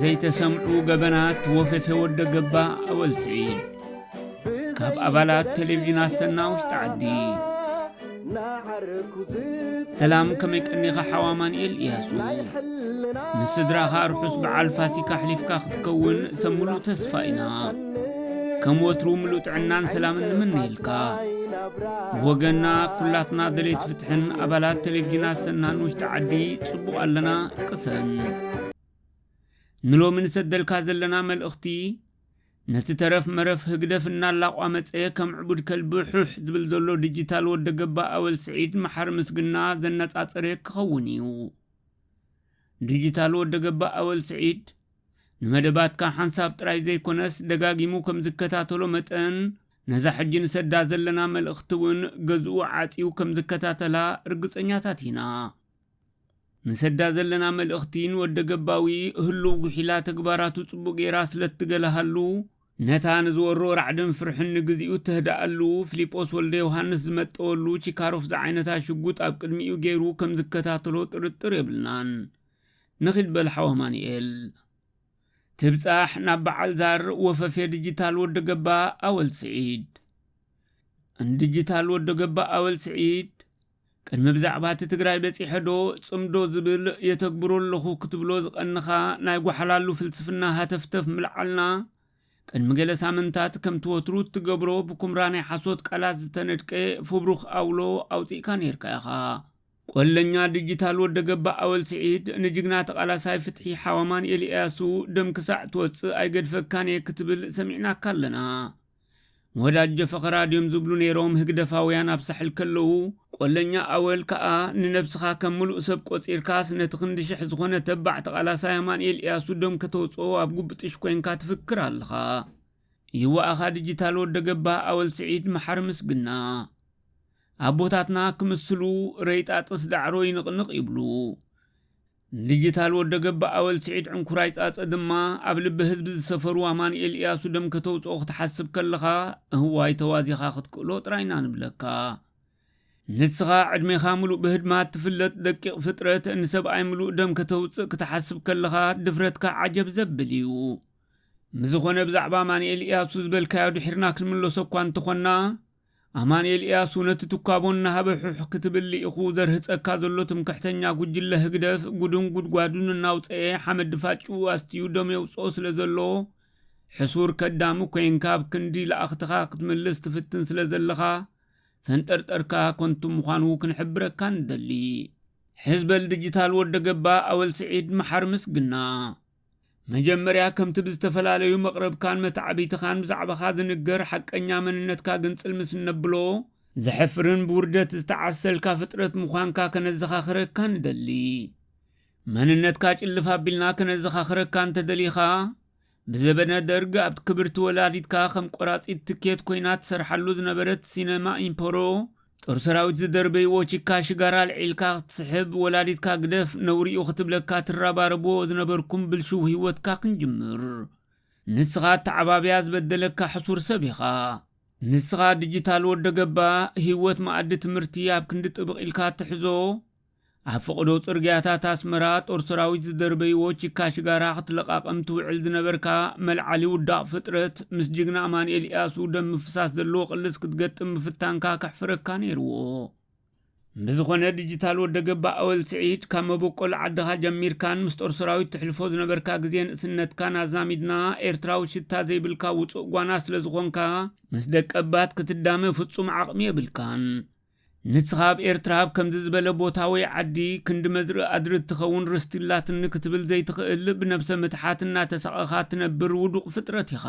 ዘይተሰምዑ ገበናት ወፈፌ ወደ ገባ ኣወል ስዒድ ካብ ኣባላት ቴሌቭዥን ኣሰና ውሽጢ ዓዲ ሰላም ከመይ ቀኒኻ ሓው ኣማንኤል እያሱ ምስ ስድራኻ ርሑስ በዓል ፋሲካ ኣሕሊፍካ ክትከውን ሰብ ምሉእ ተስፋ ኢና ከም ወትሩ ምሉእ ጥዕናን ሰላምን ንምነየልካ ወገና ኩላትና ደሌት ፍትሕን ኣባላት ቴሌቭዥን ኣሰናን ውሽጢ ዓዲ ጽቡቕ ኣለና ቅሰን ንሎሚ ንሰደልካ ዘለና መልእኽቲ ነቲ ተረፍ መረፍ ህግደፍ እናላቋመጸ ከም ዕቡድ ከልቢ ሑሕ ዝብል ዘሎ ዲጂታል ወደ ገባ ኣወል ስዒድ መሓሪ ምስግና ዘነጻጸረ ክኸውን እዩ። ዲጂታል ወደ ገባ ኣወል ስዒድ ንመደባትካ ሓንሳብ ጥራይ ዘይኮነስ ደጋጊሙ ከም ዝከታተሎ መጠን ነዛ ሕጂ ንሰዳ ዘለና መልእኽቲ እውን ገዝኡ ዓጽዩ ከም ዝከታተላ ርግጸኛታት ኢና። ንሰዳ ዘለና መልእኽቲ ንወደ ገባዊ ህሉው ጉሒላ ተግባራቱ ጽቡቕ ገይራ ስለ እትገለሃሉ፣ ነታ ንዝወሮ ራዕድን ፍርሕን ንግዜኡ እተህድኣሉ፣ ፍሊጶስ ወልደዮሃንስ ዝመጠወሉ ቺካሮፍ ዝዓይነታ ሽጉጥ ኣብ ቅድሚኡ ገይሩ ከም ዝከታተሎ ጥርጥር የብልናን። ንኺድ በል ሓው ኣማኑኤል። ትብጻሕ ናብ በዓል ዛር ወፈፌ ድጂታል ወደ ገባ ኣወል ስዒድ። ን ድጂታል ወደ ገባ ኣወል ስዒድ። ቅድሚ ብዛዕባ እቲ ትግራይ በጺሐ ዶ ጽምዶ ዝብል የተግብሮ ኣለኹ ክትብሎ ዝቐንኻ ናይ ጓሓላሉ ፍልስፍና ሃተፍተፍ ምልዓልና ቅድሚ ገለ ሳምንታት ከምቲ ወትሩ እትገብሮ ብኩምራ ናይ ሓሶት ቃላት ዝተነድቀ ፉብሩኽ ኣውሎ ኣውጺእካ ኔርካ ኢኻ። ቆለኛ ድጅታል ወደ ገባ ኣወል ስዒድ ንጅግና ተቓላሳይ ፍትሒ ሓው ኣማንኤል ኢያሱ ደም ክሳዕ ትወጽእ ኣይገድፈካን ኢየ ክትብል ሰሚዕናካ ኣለና። ንወዳጀ ፈኸራ ድዮም ዝብሉ ነይሮም ህግደፋውያን ኣብ ሳሕል ከለዉ፣ ቆለኛ ኣወል ከኣ ንነብስኻ ከም ምሉእ ሰብ ቆጺርካስ ነቲ ክንዲ ሽሕ ዝኾነ ተባዕ ተቓላሳይ ኣማንኤል ኢያሱ ደም ከተውጽኦ ኣብ ጉብጥሽ ኮንካ ትፍክር ኣለኻ። ይዋኣኻ ድጂታል ወደ ገባህ ኣወል ስዒድ መሓሪ ምስግና። ኣቦታትና ክምስሉ ረይጣጥስ ዳዕሮ ይንቕንቕ ይብሉ። ንዲጂታል ወደ ገብ ኣወል ስዒድ ዕንኩራይ ጻጸ ድማ ኣብ ልቢ ህዝቢ ዝሰፈሩ ኣማኒኤል ኢያሱ ደም ከተውጽኦ ክትሓስብ ከለኻ እህዋይ ተዋዚኻ ክትክእሎ ጥራይ እና ንብለካ ንስኻ ዕድሜኻ ምሉእ ብህድማት ትፍለጥ ደቂቕ ፍጥረት ንሰብኣይ ምሉእ ደም ከተውጽእ ክትሓስብ ከለኻ ድፍረትካ ዓጀብ ዘብል እዩ ምዝኾነ ብዛዕባ ኣማኒኤል ኢያሱ ዝበልካዮ ድሒርና ክንምለሶ እኳ እንተኾና ኣማንኤል ኢያሱ ነቲ ትኳቦ እናሃበ ሑሕ ክትብል ልኢኹ ዘርህጸካ ዘሎ ትምክሕተኛ ጉጅለ ህግደፍ ጉዱን ጉድጓዱን እናውጸኤ ሓመድ ድፋጭኡ ኣስትዩ ደም የውጽኦ ስለ ዘሎ ሕሱር ከዳሚ ኮንካ ኣብ ክንዲ ለኣኽትኻ ክትምልስ ትፍትን ስለ ዘለኻ ፈንጠርጠርካ ኮንቱ ምዃኑ ክንሕብረካ ንደሊ። ሕዝ በል ድጅታል ወደ ገባ ኣወል ስዒድ መሓሪ ምስግና። መጀመርያ ከምቲ ብዝተፈላለዩ መቕርብካን መታዕቢትኻን ብዛዕባኻ ዝንገር ሓቀኛ መንነትካ ግንጽል ምስ እነብሎ፣ ዘሕፍርን ብውርደት ዝተዓሰልካ ፍጥረት ምዃንካ ከነዘኻኽረካ ንደሊ። መንነትካ ጭልፍ ኣቢልና ከነዘኻኽረካ እንተደሊኻ፣ ብዘበነ ደርግ ኣብ ክብርቲ ወላዲትካ ከም ቆራጺት ትኬት ኮይና ትሰርሓሉ ዝነበረት ሲነማ ኢምፐሮ ጦር ሰራዊት ዝደርበይዎ ቺካ ሽጋራ ኣልዒልካ ክትስሕብ ወላዲትካ ግደፍ ነውሪ'ዩ ክትብለካ ትራባረብዎ ዝነበርኩም ብልሽው ሂወትካ ክንጅምር ንስኻ ኣተዓባብያ ዝበደለካ ሕሱር ሰብ ኢኻ ንስኻ ድጅታል ወደገባ ሂወት መኣዲ ትምህርቲ ኣብ ክንዲ ጥብቕ ኢልካ ትሕዞ ኣብ ፍቕዶ ጽርግያታት ኣስመራ ጦር ሰራዊት ዝደርበይዎ ቺካ ሽጋራ ክትለቓቕም ትውዕል ዝነበርካ መልዓሊ ውዳቕ ፍጥረት ምስ ጅግና ኣማንኤል ኢያሱ ደም ምፍሳስ ዘለዎ ቅልስ ክትገጥም ምፍታንካ ከሕፍረካ ነይርዎ። ብዝኾነ ድጅታል ወደ ገባ ኣወል ስዒድ ካብ መበቆል ዓድኻ ጀሚርካን ምስ ጦር ሰራዊት ትሕልፎ ዝነበርካ ግዜ ንእስነትካን ኣዛሚድና ኤርትራዊ ሽታ ዘይብልካ ውጹእ ጓና ስለ ዝኾንካ ምስ ደቀባት ክትዳመ ፍጹም ዓቕሚ የብልካን። ንስኻ ኣብ ኤርትራ ኣብ ከምዚ ዝበለ ቦታ ወይ ዓዲ ክንዲ መዝርኢ ኣድሪ እትኸውን ርስቲ ኣላትኒ ክትብል ዘይትኽእል ብነብሰ ምትሓት እናተሳቐኻ እትነብር ውዱቕ ፍጥረት ኢኻ።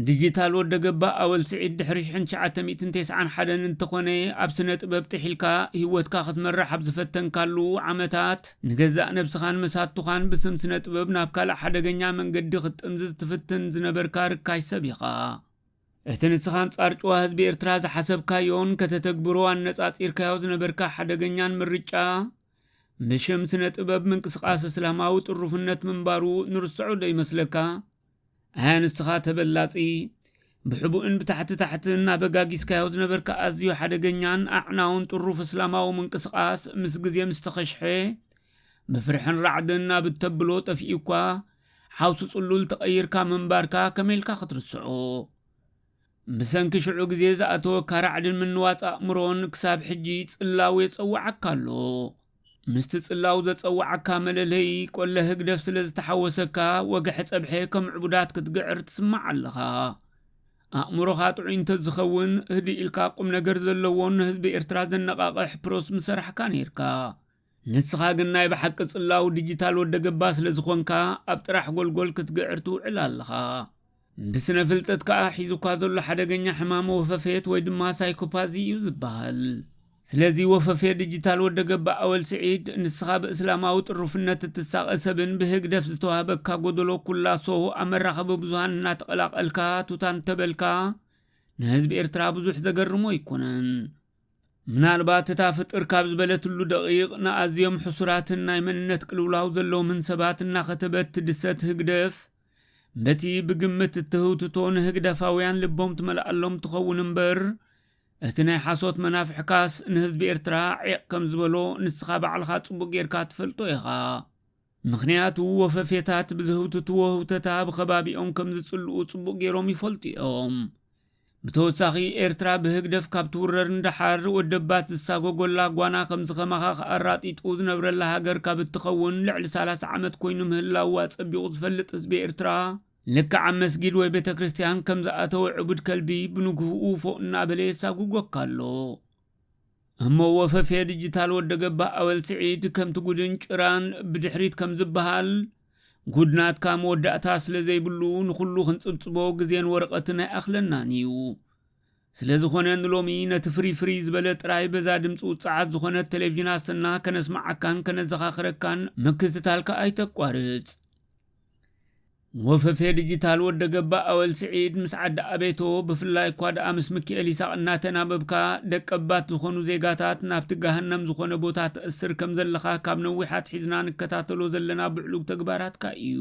ንዲጂታል ወደ ገባ ኣወል ስዒድ ድሕሪ ሽሕን ትሽዓተ ሚእትን ቴስዓን ሓደን እንተኾነ ኣብ ስነ ጥበብ ጥሒልካ ሂወትካ ክትመርሕ ኣብ ዝፈተንካሉ ዓመታት ንገዛእ ነብስኻን መሳቱኻን ብስም ስነ ጥበብ ናብ ካልእ ሓደገኛ መንገዲ ክትጥምዝዝ ትፍትን ዝነበርካ ርካሽ ሰብ ኢኻ። እቲ ንስኻ ኣንጻር ጭዋ ህዝቢ ኤርትራ ዝሓሰብካዮን ከተተግብሮ ኣነጻጺርካዮ ዝነበርካ ሓደገኛን ምርጫ፣ ብሽም ስነ-ጥበብ ምንቅስቓስ እስላማዊ ጥሩፍነት ምንባሩ ንርስዖዶ ይመስለካ? ኣያ ንስኻ ተበላጺ፣ ብሕቡእን ብታሕቲ ታሕትን ኣበጋጊስካዮ ዝነበርካ ኣዝዩ ሓደገኛን ኣዕናውን ጥሩፍ እስላማዊ ምንቅስቓስ ምስ ግዜ ምስተኸሽሐ፣ ብፍርሕን ራዕድን ኣብ እተብሎ ጠፊኡኳ፣ ሓውሲ ጽሉል ተቐይርካ ምንባርካ ከመይ ኢልካ ክትርስዖ? ብሰንኪ ሽዑ ግዜ ዝኣተወካ ራዕድን ምንዋጽ ኣእምሮን ክሳብ ሕጂ ጽላው የጸውዓካ ኣሎ። ምስቲ ጽላው ዘጸውዓካ መለለዪ ቆለ ህግደፍ ስለ ዝተሓወሰካ ወግሐ ጸብሐ ከም ዕቡዳት ክትግዕር ትስማዕ ኣለኻ። ኣእምሮኻ ጥዑይ እንተዝኸውን ህድእ ኢልካ ቁም ነገር ዘለዎን ንህዝቢ ኤርትራ ዘነቓቕሕ ፕሮስ ምሰራሕካ ኔርካ። ንስኻ ግን ናይ ብሓቂ ጽላው ዲጂታል ወደ ገባ ስለ ዝኾንካ ኣብ ጥራሕ ጎልጎል ክትግዕር ትውዕል ኣለኻ። ብስነ ፍልጠት ከኣ ሒዙካ ዘሎ ሓደገኛ ሕማም ወፈፌት ወይ ድማ ሳይኮፓዚ እዩ ዝበሃል። ስለዚ ወፈፌ ዲጂታል ወደ ገባ ኣወል ስዒድ ንስኻ ብእስላማዊ ጥሩፍነት እትሳቐ ሰብን ብህግደፍ ዝተዋህበካ ጎደሎ ኩላሶ ኣብ መራኸቢ ብዙሃን እናተቐላቐልካ ቱታ እንተበልካ ንህዝቢ ኤርትራ ብዙሕ ዘገርሞ ኣይኮነን። ምናልባት እታ ፍጥር ካብ ዝበለትሉ ደቒቕ ንኣዝዮም ሕሱራትን ናይ መንነት ቅልውላው ዘለዎምን ሰባት እናኸተበት ትድሰት ህግደፍ በቲ ብግምት እትህውትቶ ንህግደፋውያን ልቦም ትመልኣሎም ትኸውን እምበር እቲ ናይ ሓሶት መናፍሕካስ ንህዝቢ ኤርትራ ዒቕ ከም ዝበሎ ንስኻ ባዕልኻ ጽቡቕ ጌርካ ትፈልጦ ኢኻ። ምኽንያቱ ወፈፌታት ብዝህውትትዎ ህውተታ ብኸባቢኦም ከም ዝጽልኡ ጽቡቕ ገይሮም ይፈልጡ እዮም። ብተወሳኺ ኤርትራ ብህግደፍ ካብ ትውረር ንደሓር ወደባት ዝሳጎጎላ ጓና ከም ዝኸማኻኽ ኣራጢጡ ዝነብረላ ሃገር ካብ እትኸውን ልዕሊ ሰላሳ ዓመት ኮይኑ ምህላዉ ኣጸቢቑ ዝፈልጥ ህዝቢ ኤርትራ ልክዕ ኣብ መስጊድ ወይ ቤተክርስትያን ከም ዝኣተወ ዕቡድ ከልቢ ብንግሁኡ ፎእ እናበለ የሳጉጎካ ኣሎ። እሞ ወፈፌ ድጅታል ወደ ገባህ ኣወል ስዒድ ከምቲ ጉድን ጭራን ብድሕሪት ከም ዝብሃል ጉድ ናትካ መወዳእታ ስለ ዘይብሉ ንኹሉ ክንጽብጽቦ ግዜን ወረቐትን ኣይኣኽለናን ኢዩ። ስለ ዝኾነ ንሎሚ ነቲ ፍርይ ፍርይ ዝበለ ጥራይ በዛ ድምጺ ውጽዓት ዝኾነት ተሌቭዥን ኣሰና ከነስምዓካን ከነዘኻኽረካን ምክትታልካ ኣይተቋርጽ። ወፈፌ ዲጂታል ወደ ገባ ኣወል ስዒድ ምስ ዓዲ ኣቤቶ ብፍላይ እኳ ደኣ ምስ ምክኤል ይሳቕ እናተናበብካ ደቀባት ዝኾኑ ዜጋታት ናብቲ ገሃነም ዝኾነ ቦታ ተእስር ከም ዘለኻ ካብ ነዊሕ ኣትሒዝና ንከታተሎ ዘለና ብዕሉግ ተግባራትካ እዩ።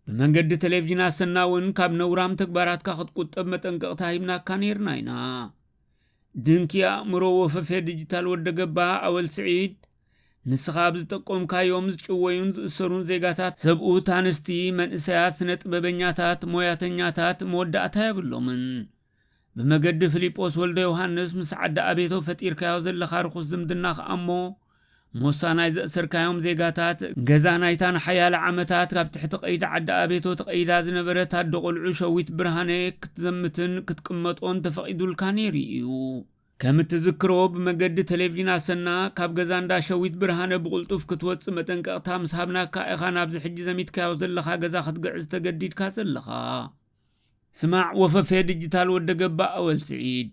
ብመንገዲ ቴሌቭዥን ኣሰና እውን ካብ ነውራም ተግባራትካ ክትቁጠብ መጠንቀቕታ ሂብናካ ነይርና ኢና። ድንኪ ኣእምሮ ወፈፌ ድጂታል ወደ ገባህ ኣወል ስዒድ ንስኻ ብ ዝጠቆምካዮም ዝጭወዩን ዝእሰሩን ዜጋታት ሰብኡት ኣንስቲ መንእሰያት ስነ ጥበበኛታት ሞያተኛታት መወዳእታ የብሎምን ብመገዲ ፍሊጶስ ወልደዮሃንስ ምስ ዓዲ ኣቤቶ ፈጢርካዮ ዘለኻ ርኹስ ዝምድና ከኣ እሞ ሞሳ ናይ ዘእሰርካዮም ዜጋታት፣ ገዛ ናይታ ንሓያለ ዓመታት ካብ ትሕቲ ቀይዲ ዓዲ ኣቤቶ ተቐይዳ ዝነበረት ኣደ ቖልዑ ሸዊት ብርሃነ ክትዘምትን ክትቅመጦን ተፈቒዱልካ ነይሩ እዩ። ከም እትዝክሮ ብመገዲ ተሌቭዥን ኣሰና፣ ካብ ገዛ እንዳ ሸዊት ብርሃነ ብቕልጡፍ ክትወጽእ መጠንቀቕታ ምስ ሃብናካ ኢኻ ናብዚ ሕጂ ዘሚትካዮ ዘለኻ ገዛ ክትግዕዝ ተገዲድካ ዘለኻ። ስማዕ ወፈፌ ድጅታል ወደገባ ኣወል ስዒድ።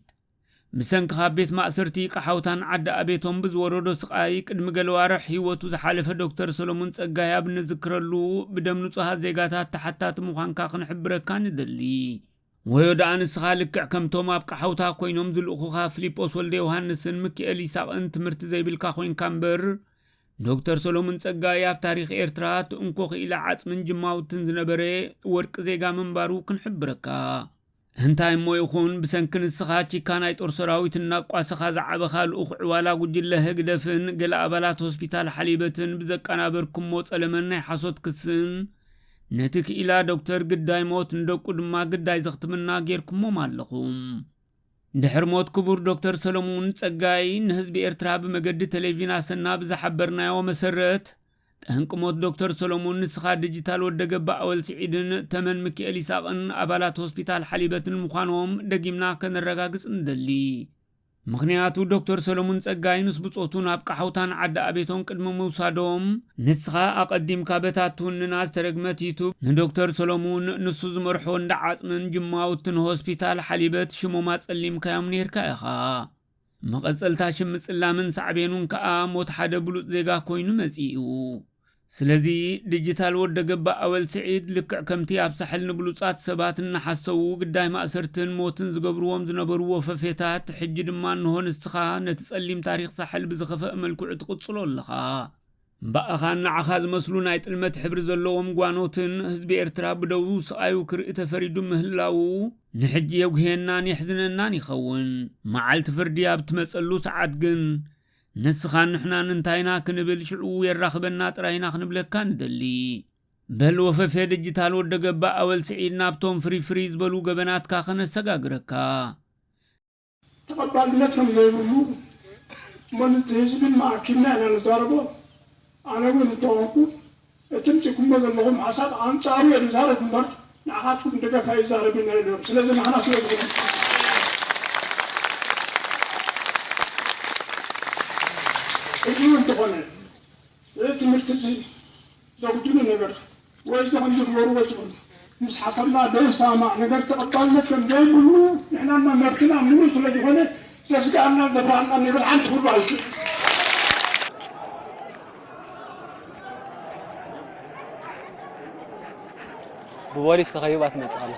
ብሰንኪ ካብ ቤት ማእሰርቲ ቀሓውታን ዓዲ ኣቤቶም ብዝወረዶ ስቓይ ቅድሚ ገለ ኣዋርሕ ህይወቱ ዝሓለፈ ዶክተር ሰሎሙን ጸጋይ ኣብ እንዝክረሉ ብደም ንጹሃት ዜጋታት ተሓታቲ ምዃንካ ክንሕብረካ ንደሊ። ወዮ ደኣ ንስኻ ልክዕ ከምቶም ኣብ ቀሓውታ ኮይኖም ዝልእኹኻ ፍሊጶስ ወልደዮውሃንስን ምኪኤል ይሳቕን ትምህርቲ ዘይብልካ ኮይንካ እምበር ዶክተር ሰሎሙን ጸጋይ ኣብ ታሪኽ ኤርትራ እቲ እንኮ ክኢላ ዓጽምን ጅማውትን ዝነበረ ወርቂ ዜጋ ምንባሩ ክንሕብረካ እንታይ እሞ ይኹን ብሰንኪ ንስኻ ቺካ ናይ ጦር ሰራዊት እናቋሰኻ ዝዓበኻ ልኡኽ ዕዋላ ጉጅለ ህግደፍን ገለ ኣባላት ሆስፒታል ሓሊበትን ብዘቃናበርኩሞ ጸለመን ናይ ሓሶት ክስን ነቲ ክኢላ ዶክተር ግዳይ ሞት ንደቁ ድማ ግዳይ ዘኽትምና ጌርኩሞም ኣለኹም። ድሕሪ ሞት ክቡር ዶክተር ሰለሙን ጸጋይ ንህዝቢ ኤርትራ ብመገዲ ተሌቪን ኣሰና ብዝሓበርናዮ መሰረት ጠንቂ ሞት ዶክተር ሰለሙን ንስኻ ድጅታል ወደ ገባኣወል ስዒድን ተመን ምኪኤል ይስሃቅን ኣባላት ሆስፒታል ሓሊበትን ምዃኖም ደጊምና ከነረጋግጽ ንደሊ። ምኽንያቱ ዶክተር ሰለሙን ጸጋይ ምስ ብጾቱ ናብ ቃሓውታን ዓዲ ኣቤቶን ቅድሚ ምውሳዶም ንስኻ ኣቐዲምካ በታ ትውንና ዝተረግመት ዩቱብ ንዶክተር ሰለሙን ንሱ ዝመርሖ እንዳ ዓጽምን ጅማውትን ሆስፒታል ሓሊበት ሽሞም ኣጸሊምካዮም ኔርካ ኢኻ። መቐጸልታ ሽም ምጽላምን ሳዕቤኑን ከኣ ሞት ሓደ ብሉጽ ዜጋ ኮይኑ መጺኡ። ስለዚ ድጅታል ወደገባ ኣወል ስዒድ ልክዕ ከምቲ ኣብ ሳሕል ንብሉጻት ሰባት እናሓሰዉ ግዳይ ማእሰርትን ሞትን ዝገብርዎም ዝነበሩ ወፈፌታት ሕጂ ድማ እንሆ ንስኻ ነቲ ጸሊም ታሪኽ ሳሕል ብዝኸፈእ መልክዑ ትቕጽሎ ኣለኻ። እምባኣኻን ንዓኻ ዝመስሉ ናይ ጥልመት ሕብሪ ዘለዎም ጓኖትን ህዝቢ ኤርትራ ብደዉ ስቓዩ ክርኢ ተፈሪዱ ምህላዉ ንሕጂ የጉህየናን የሕዝነናን ይኸውን። መዓልቲ ፍርዲ ኣብ እትመጸሉ ሰዓት ግን ንስኻን ንሕናን እንታይ ኢና ክንብል ሽዑ የራኽበና ጥራይ ኢና ክንብለካ ንደሊ። በል ወፈፌ ድጅታል ወደገባ ኣወል ስዒድ ናብቶም ፍርይ ፍርይ ዝበሉ ገበናትካ ከነሰጋግረካ። ተቐባልነት ከም ዘይብሉ እሞ ንቲ ህዝቢ ድማ ኣኪብና ኢና ንዛረቦ ኣነ እውን እንተኾንኩ እቲ ምጺኩሞ ዘለኹም ሓሳብ ኣንጻሩ እየ ዝዛረብ እምበር ንዓኻትኩም ድጋፍ ኣይዛረብን እየ ኢሎም ስለዚ ናህና ስለ ዝኾነ ሕጂ እውን እንተኾነ እዚ ትምህርቲ እዚ ዘጉድሉ ነገር ወልድኹም ንግበሩ ወልድኹም ምስ ሓሰብና ዘይሰማማዕ ነገር ተቐባልነት ከም ዘይብሉ ንሕና እና መብትና ምሉእ ስለ ዝኾነ ዘስግኣናን ዘፍርሃናን ነገር ሓንቲ ክህሉ ኣይክእልን። ብቦሊስ ተኸቢባ ትመጽእ ኣላ።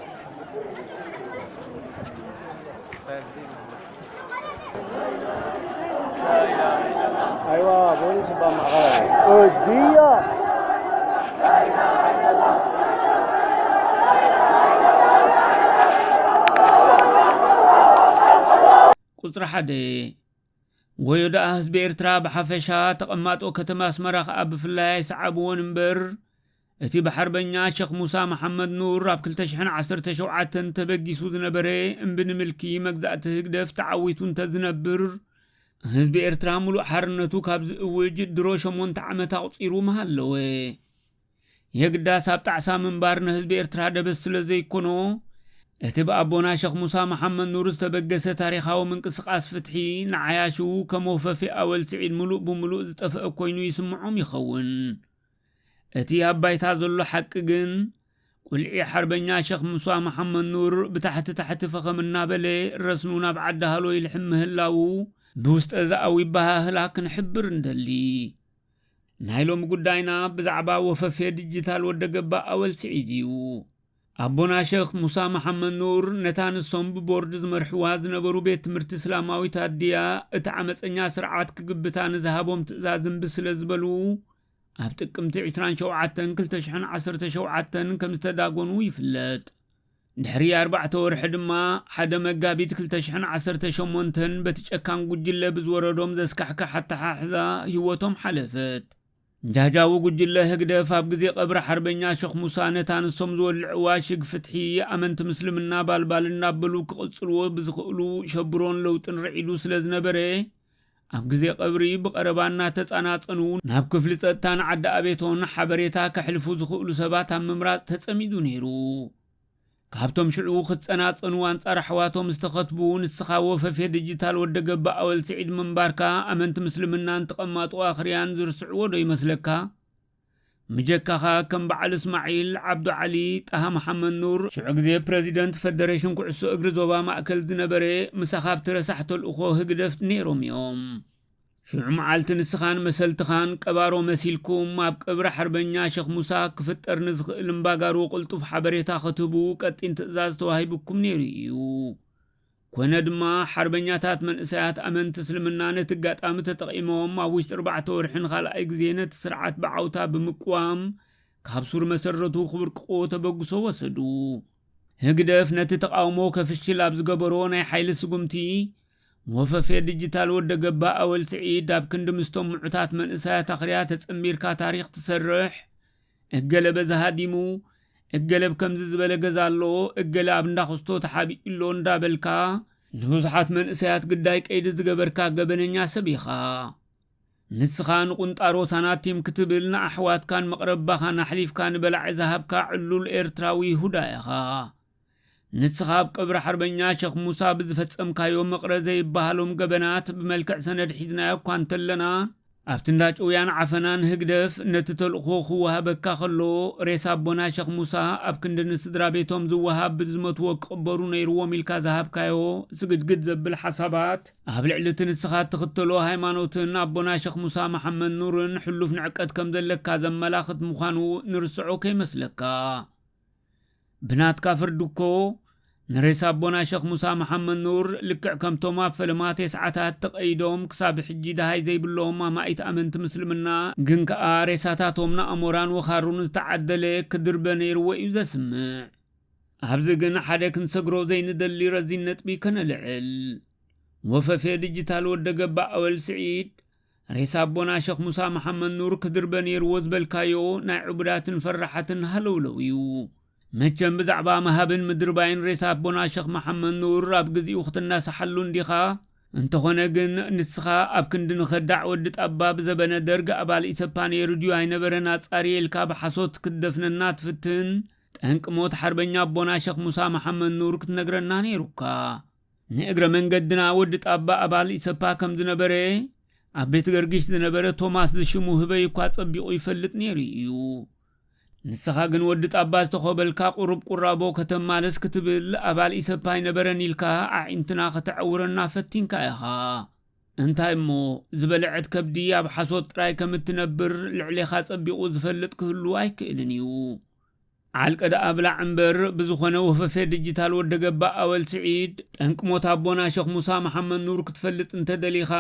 ቁፅሪ ሓደ ወዮ ደኣ ህዝቢ ኤርትራ ብሓፈሻ ተቐማጦ ከተማ ኣስመራ ከኣ ብፍላይ ኣይሰዓብዎን እምበር እቲ ብሓርበኛ ሸኽ ሙሳ መሓመድ ኑር ኣብ ክልተ ሽሕን ዓሰርተ ሸውዓተን ተበጊሱ ዝነበረ እምቢ ንምልኪ መግዛእቲ ህግደፍ ተዓዊቱ እንተዝነብር፣ ህዝቢ ኤርትራ ምሉእ ሓርነቱ ካብ ዝእውጅ ድሮ ሸሞንተ ዓመት ኣቑጺሩ ምሃለወ። የግዳስ ኣብ ጣዕሳ ምንባር ንህዝቢ ኤርትራ ደበስ ስለዘይኮኖ፣ እቲ ብኣቦና ሸኽ ሙሳ መሓመድ ኑር ዝተበገሰ ታሪኻዊ ምንቅስቓስ ፍትሒ ንዓያሹ ከም ወፈፌ ኣወል ስዒድ ምሉእ ብምሉእ ዝጠፈአ ኮይኑ ይስምዖም ይኸውን። እቲ ኣብ ባይታ ዘሎ ሓቂ ግን፣ ቁልዒ ሓርበኛ ሸኽ ሙሳ መሓመድኑር ብታሕቲ ታሕቲ ፈኸም እናበለ ረስኑ ናብ ዓዲ ሃሎ ይልሕም ምህላዉ ብውስጠዘኣዊ ኣበሃህላ ክንሕብር ንደሊ። ናይ ሎሚ ጉዳይና ብዛዕባ ወፈፌ ድጂታል ወደገባ ኣወል ስዒድ እዩ። ኣቦና ሸኽ ሙሳ መሓመድኑር ነታ ንሶም ብቦርድ ዝመርሕዋ ዝነበሩ ቤት ትምህርቲ እስላማዊት ኣዲያ እቲ ዓመጸኛ ስርዓት ክግብታ ንዝሃቦም ትእዛዝ እምቢ ስለዝበሉ፣ ኣብ ጥቅምቲ ዕስራን ሸውዓተን ክልተ ሽሕን ዓሰርተ ሸውዓተን ከም ዝተዳጎኑ ይፍለጥ። ድሕሪ ኣርባዕተ ወርሒ ድማ ሓደ መጋቢት ክልተ ሽሕን ዓሰርተ ሸሞንተን በቲ ጨካን ጉጅለ ብዝወረዶም ዘስካሕክሕ ኣተሓሕዛ ህይወቶም ሓለፈት። ጃጃዊ ጉጅለ ህግደፍ ኣብ ግዜ ቀብሪ ሓርበኛ ሸኽ ሙሳ ነታ ንሶም ዝወልዕዋ ሽግ ፍትሒ ኣመንቲ ምስልምና ባልባል እናበሉ ክቕጽልዎ ብዝኽእሉ ሸብሮን ለውጥን ርዒዱ ስለ ዝነበረ ኣብ ግዜ ቀብሪ ብቐረባ እናተጻናጸኑ ናብ ክፍሊ ጸጥታን ዓዲ ኣቤቶን ሓበሬታ ከሕልፉ ዝኽእሉ ሰባት ኣብ ምምራጽ ተጸሚዱ ነይሩ። ካብቶም ሽዑ ክጸናጸኑ ኣንጻር ኣሕዋቶም ዝተኸትቡ ንስኻ ወፈፌ ድጂታል ወደ ገባ ኣወል ስዒድ ምንባርካ ኣመንቲ ምስልምናን ተቐማጦ ኣኽርያን ዝርስዕዎ ዶ ይመስለካ? ምጀካኻ ከም በዓል እስማዒል፣ ዓብዱ ዓሊ፣ ጣሃ መሓመድ ኑር፣ ሽዑ ግዜ ፕረዚደንት ፈደረሽን ኩዕሶ እግሪ ዞባ ማእከል ዝነበረ ምሳኻ ኣብቲ ረሳሕ ተልእኾ ህግደፍ ነይሮም እዮም። ሽዑ መዓልቲ ንስኻን መሰልትኻን ቀባሮ መሲልኩም ኣብ ቀብሪ ሓርበኛ ሸኽ ሙሳ ክፍጠር ንዝኽእል እምባጋሮ ቅልጡፍ ሓበሬታ ክትህቡ ቀጢን ትእዛዝ ተዋሂቡኩም ነይሩ እዩ። ኮነ ድማ ሓርበኛታት መንእሰያት ኣመንቲ እስልምና ነቲ ኣጋጣሚ ተጠቒሞም ኣብ ውሽጢ ኣርባዕተ ወርሒ ንኻልኣይ ግዜ ነቲ ስርዓት ብዓውታ ብምቅዋም ካብ ሱር መሰረቱ ክብርቅቕዎ ተበግሶ ወሰዱ። ህግደፍ ነቲ ተቓውሞ ከፍሽል ኣብ ዝገበሮ ናይ ሓይሊ ስጉምቲ፣ ወፈፌ ድጅታል ወደገባ ኣወል ስዒድ ኣብ ክንዲ ምስቶም ምዑታት መንእሰያት ኣኽርያ ተጸንቢርካ ታሪኽ ትሰርሕ፣ እገለ በዚ ሃዲሙ፣ እገለ ብ ከምዚ ዝበለ ገዛ ኣሎ፣ እገለ ኣብ እንዳ ኩስቶ ተሓቢኡ ኣሎ እንዳበልካ ንብዙሓት መንእሰያት ግዳይ ቀይዲ ዝገበርካ ገበነኛ ሰብ ኢኻ። ንስኻ ንቁንጣሮ ሳናቲም ክትብል ንኣሕዋትካን መቅረባኻን ኣሕሊፍካ ንበላዒ ዝሃብካ ዕሉል ኤርትራዊ ይሁዳ ኢኻ። ንስኻ ኣብ ቀብሪ ሓርበኛ ሸኽ ሙሳ ብዝፈጸምካዮ መቕረ ዘይበሃሎም ገበናት ብመልክዕ ሰነድ ሒዝናዮ እኳ እንተለና፣ ኣብቲ እንዳ ጭውያን ዓፈናን ህግደፍ ነቲ ተልእኾ ክወሃበካ ከሎ፣ ሬሳ ኣቦና ሸኽ ሙሳ ኣብ ክንዲ ንስድራቤቶም ዝወሃብ ብዝመትዎ ክቕበሩ ነይርዎም ኢልካ ዝሃብካዮ ስግድግድ ዘብል ሓሳባት፣ ኣብ ልዕሊ እቲ ንስኻ እትኽተሎ ሃይማኖትን ኣቦና ሸኽ ሙሳ መሓመድ ኑርን ሕሉፍ ንዕቀት ከምዘለካ ዘመላኽት ምዃኑ ንርስዖ ከይመስለካ። ብናትካ ፍርዲ እኮ ንሬሳ ኣቦና ሸኽ ሙሳ መሓመድ ኑር ልክዕ ከምቶም ኣብ ፈለማ ቴስዓታት ተቀይዶም ክሳብ ሕጂ ደሃይ ዘይብሎም ኣማኢት ኣመንቲ ምስልምና ግን ከኣ ሬሳታቶም ንኣሞራን ወኻሩን ዝተዓደለ ክድርበ ነይርዎ እዩ ዘስምዕ። ኣብዚ ግን ሓደ ክንሰግሮ ዘይንደሊ ረዚን ነጥቢ ከነልዕል። ወፈፌ ድጅታል ወደገባ ኣወል ስዒድ ሬሳ ኣቦና ሸኽ ሙሳ መሓመድ ኑር ክድርበ ኔርዎ ዝበልካዮ ናይ ዕቡዳትን ፈራሓትን ሃለውለው ኢዩ። መቸም ብዛዕባ ምሃብን ምድርባይን ሬሳ ኣቦና ሸኽ መሓመድ ኑር ኣብ ግዚኡ ክትናሳሓሉ እንዲኻ። እንተኾነ ግን ንስኻ ኣብ ክንዲ ንኸዳዕ ወዲ ጣባ ብዘበነ ደርግ ኣባል ኢሰፓ ኔሩ ድዩ ኣይነበረን ኣጻርየ ኢልካ ብሓሶት ክትደፍነና ትፍትን ጠንቂ ሞት ሓርበኛ ኣቦና ሸኽ ሙሳ መሓመድ ኑር ክትነግረና ኔሩካ። ንእግረ መንገድና ወዲ ጣባ ኣባል ኢሰፓ ከም ዝነበረ ኣብ ቤትገርግሽ ዝነበረ ቶማስ ዝሽሙ ህበይ እኳ ጸቢቑ ይፈልጥ ነይሩ ኢዩ። ንስኻ ግን ወዲ ጣባ ዝተኾበልካ ቁሩብ ቁራቦ ከተማልስ ክትብል ኣባል ኢሰፓ ኣይነበረን ኢልካ ኣዒንትና ከተዐውረና ፈቲንካ ኢኻ። እንታይ እሞ ዝበለዐት ከብዲ ኣብ ሓሶት ጥራይ ከም እትነብር ልዕሌኻ ጸቢቑ ዝፈልጥ ክህሉ ኣይክእልን ኢዩ። ዓልቀ ደኣ ብላዕ እምበር ብዝኾነ ወፈፌ ድጅታል ወደ ገባ ኣወል ስዒድ ጠንቂ ሞት ኣቦና ሸኽ ሙሳ መሓመድ ኑር ክትፈልጥ እንተደሊኻ